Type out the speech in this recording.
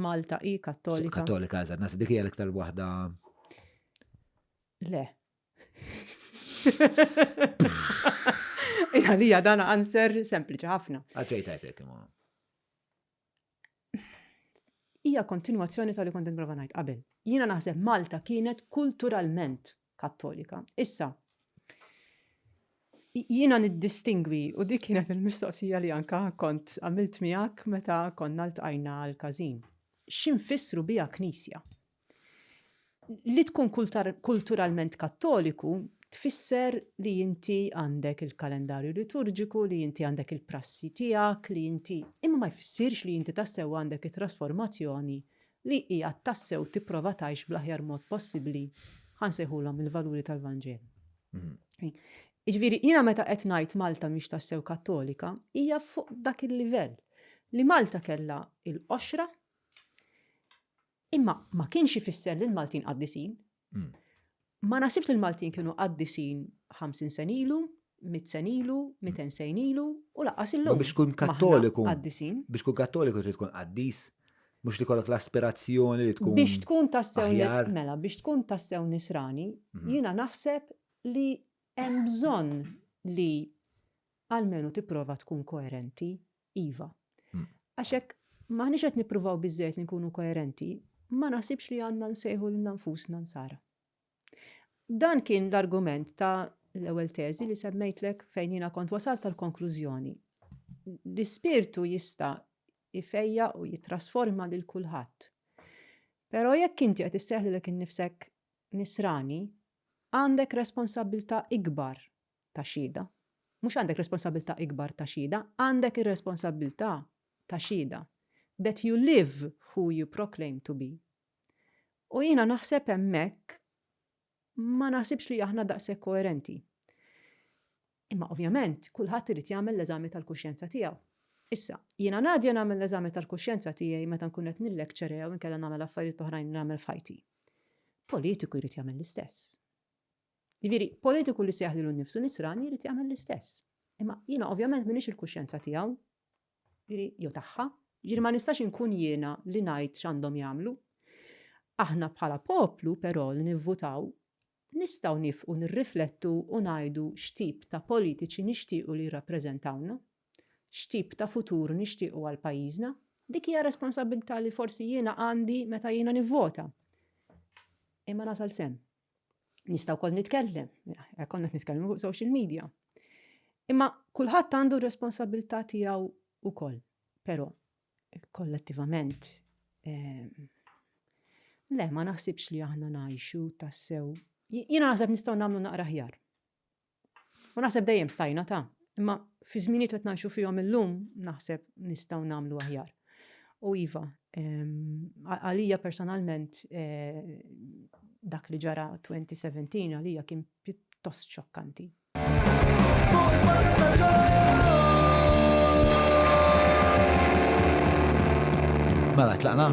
Malta hi kattolika. Kattolika, eżatt, nasib dik hija l-iktar waħda. Le. Għalija dan answer sempliċi ħafna. Għalfej tajtek imma. Hija kontinwazzjoni tal-li kont nipprova ngħid qabel. Jiena naħseb Malta kienet kulturalment Kattolika. Issa, jiena niddistingwi u dik kienet il-mistoqsija li anka kont għamilt miegħek meta konna ltqajna għal każin. X'infissru biha knisja? Li tkun kulturalment Kattoliku tfisser li inti għandek il-kalendarju liturġiku, li inti għandek il-prassi tiegħek, li inti imma ma jfissirx li inti tassew għandek it-trasformazzjoni li hija tassew tipprova tgħix bl-aħjar mod possibbli, ħa nsejħulhom il-valuri tal-Vanġelu. Jiġifieri jiena meta qed ngħid Malta mhix tassew Kattolika, hija fuq dak il-livell li Malta kellha il-qoxra imma ma kienx ifisser li l-Maltin qaddisin, Hmm. Ma nasibx li l-Maltin kienu għaddisin 50 sen ilu, 100 sen ilu, 200 hmm. sen ilu, u laqqas illum. Biex kun kattoliku. Għaddisin. Biex kun kattoliku trid tkun għaddis. Mux li kollok l-aspirazzjoni li tkun. Biex tkun tassew mela, biex tkun tassew nisrani, hmm. jina naħseb li hemm bżonn li għalmenu tipprova tkun koerenti Iva. Għax hekk m'aħniex qed nippruvaw biżżejjed li nkunu koerenti, ma naħsibx li għandna nsejħu lil nfusna nsara. Dan kien l-argument ta' l-ewwel teżi li semmejtlek fejn jiena kont wasalt tal-konklużjoni. L-ispirtu jista' ifejja u jitrasforma lil kulħadd. Però jekk inti qed isseħli lek innifsek nisrani, għandek responsabilità ikbar ta' xhieda. Mhux għandek responsabbiltà ikbar ta' xhieda, għandek ir-responsabbiltà ta' xhieda. That you live who you proclaim to be. U jiena naħseb hemmhekk ma naħsibx li aħna daqshekk koerenti. Imma ovvjament kulħadd irid jagħmel l-eżami tal-kuxjenza tiegħu. Issa, jiena ngħadja nagħmel l-eżami tal-kuxjenza tiegħi meta nkun qed nillekċera jew inkella nagħmel affarijiet oħrajn nagħmel f'ħajti. Politiku jrid jagħmel l-istess. Jiġifieri, politiku li sejjaħ lilu nnifsu nisrani jrid jagħmel l-istess. Imma jiena ovvjament m'iniex il-kuxjenza tiegħu, jiġifieri jew tagħha, jiġifieri ma nistax inkun jiena li ngħid x'għandhom jagħmlu. Aħna bħala poplu però li nivvutaw nistgħu nifqu nirriflettu u ngħidu x'tip ta' politiċi nixtiequ li jirrappreżentawna, x'tip ta' futur nixtiequ għal pajjiżna. Dik hija responsabbiltà li forsi jiena għandi meta jiena nivvota. Imma nasal sehem. Nista' wkoll nitkellem, konna nitkellmu fuq social media. Imma kulħadd għandu responsabilità tiegħu wkoll. Però kollettivament ehm, le ma naħsibx li aħna ngħixu tassew. Jiena naħseb nistgħu nagħmlu naqra ħjar. U naħseb dejjem stajna ta' imma fi żminijiet li qed ngħixu fihom illum naħseb nistgħu nagħmlu aħjar. U iva, għalija personalment eh, dak li ġara 2017 għalija kien pjuttost xokkanti. Mela, tlaqna?